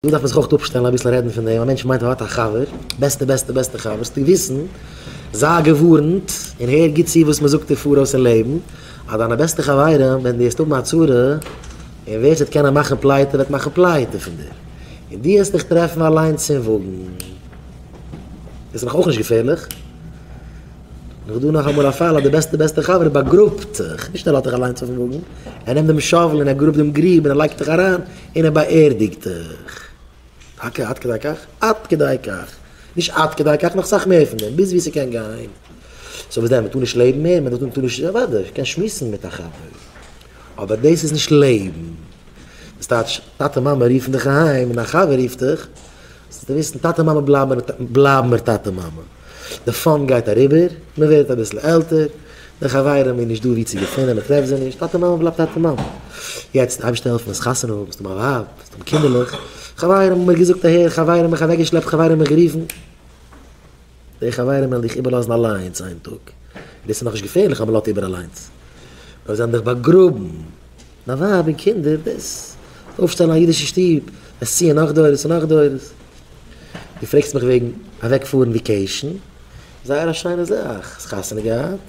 דא דארף מען זיך אויך אפשטעלן אביסל רעדן פון דעם, א מענטש מיינט ער האט א חבר, בעסטע בעסטע בעסטע חבר, זאלסטו וויסן, זיי געווארנט, און הער גוט צו וואס מען זאגט דיר פאראויס אין לעבן, אז דיינע בעסטע חברים ווען דו העסט האבן א צרה, און ווער ס'וועט קענען מאכן פלייטע וועט מאכן פלייטע פון דיר, און דו העסט דיך טרעפן אליינס אין וואגן. דאס איז דאך אויך נישט געפערליך? און אויך דא נאך אמאל א פאל אז די בעסטע בעסטע חבר באגראבט זיך, נישט ער לאזט דיך אליינס אויפן וואגן, ער נעמט דעם שאוול און ער גראבט דעם גריב און ער לייגט דיך אריין, און ער באערדיגט דיך. טאקע עד כדי כך? עד כדי כך. נישט עד כדי כך, נאך סאך מער פון דעם, ביז ווי ס'קען גיין. סאו וואס דען, מ'טאר נישט לעבן מער? מ'טאר נישט, אוודאי, כ'קען שמועסן מיט א חבר. אבער דאס איז נישט לעבן. דאס טייטש, טאטע מאמע רופן דיך אהיים און א חבר רופט דיך. זאלסט וויסן טאטע מאמע בלייבן מיר טאטע מאמע, די פאן גייט אריבער, מען ווערט אביסל עלטער, די חברים איז נישט דא ווי צו געפונען, מען טרעפט זיי נישט, טאטע מאמע בלייבט טאטע מאמע. יעצט אייבירשטער העלפן האסט חתונה, האסט אן א ווייב, האסט אן קינדערלעך, חברים האבן מיר געזאגט אהער, חברים האבן מיך אוועקגעשלעפט, חברים האבן מיך גערופן, די חברים וועלן דיך איבערלאזן אליינס איין טאג, און עס איז נאכנישט געפערליך אז מען לאזט איבער אליינס, נאר זיי וועלן דיך באגראבן, דיין ווייב און קינדער, דאס וועט אויפשטעלן א אידישע שטוב, וועסט ציען נאך דורות און נאך דורות. דו פרעגסט מיך וועגן אוועקפארן וויקעישן, זייער א שיינע זאך, האסט חתונה געהאט?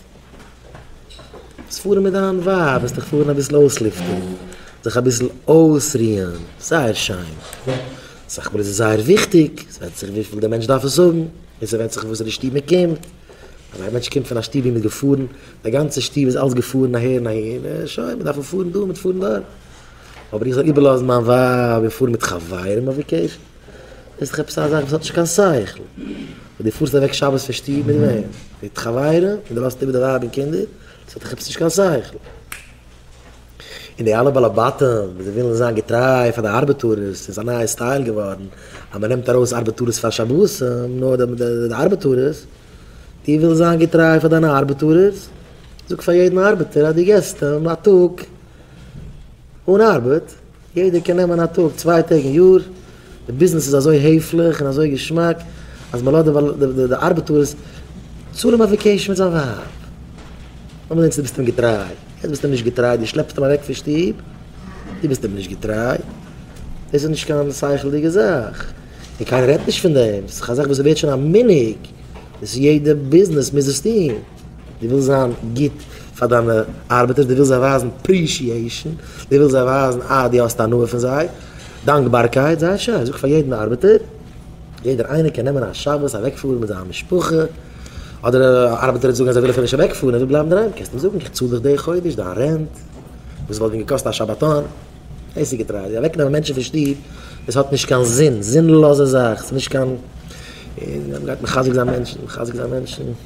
זאלסט פארן מיט דיין ווייב, וועסט דיך פארן אביסל אויסלופטען, זיך אביסל אויסרוען, זייער שיין, סך הכל איז עס זייער וויכטיג, עס ווענדט זיך וויפיל דער מענטש דארף עס האבן, און ס'ווענדט זיך וואס די שטוב מען קומט, אז א מענטש קומט פון א שטוב ווי מען איז געפארן, די גאנצע שטוב איז אלס געפארן אהער און אהין, אה שוין, מען דארף פון פארן דא, מיט פארן דארט, אבער איך זאל איבערלאזן מיין ווייב און פארן מיט חברים אויף וואקעישאן? דאס איז דאך עפעס א זאך וואס האט נישט קיין שכל, וואס דו פארסט אוועק שבת פון שטוב מיט וועם? מיט חברים? און דו לאזט איבער די ווייב און קינדער? דאס האט דאך עפעס נישט קיין שכל. און די אלע בעלי בתים וואס זיי ווילן זיין געטריי פאר די ארבעטארערס, ס'איז א נייע סטייל געווארן אז מען נעמט ארויס ארבעטארעס פאר שבתים, נו, די ארבעטארערס, דו ווילסט זיין געטריי פאר דיינע ארבעטארערס, זאג פאר יעדן ארבעטער אז דו געסט אים א טאג אן ארבעט, יעדער קען נעמען א טאג, צוויי טעג אין יאר, די ביזנעס איז אזוי העפליך און אזוי געשמאק אז מען לאזט די ארבעטארס צאלען ביי וועקעישאן מיט זיין ווייב. נאר דענסט ביסטו אים געטריי, יעצט ביסטו אים נישט געטריי, דו שלעפסט אים אוועק פון שטוב, דו ביסט אים נישט געטריי. דאס איז נישט קיין שכל'דיגע זאך, און קיינער רעדט נישט פון דעם, ס'איז א זאך וואס ווערט שוין א מנהג, וואס יעדע ביזנעס מוז עס טון. דו ווילסט זיין גוט פאר דיינע ארבעטערס, דו ווילסט זיי ווייזן פרישיעישן, דו ווילסט זיי ווייזן אז דו האסט הנאה פון זיי, דאנקבארקייט, זייער שיין, זאג פאר יעדן ארבעטער, יעדער איינער קען נעמען א שבת אוועקפארן מיט זיין משפחה, אדער ארבעטער וועט זאגן אז ער וויל אפילו נישט אוועקפארן, ער וויל בלייבן אינדערהיים, קענסט אים זאגן, איך צאל דיך די חודש דיין רענט, וואס וואלט ווען געקאסט א שבתון, דאס איז געטרייסט, אוועקנעמען מענטשן פון שטוב, דאס האט נישט קיין זין, זינלאזע זאך, ס'נישט קיין, און מ'גייט מחזק זיין מענטשן, מחזק זיין מענטשן.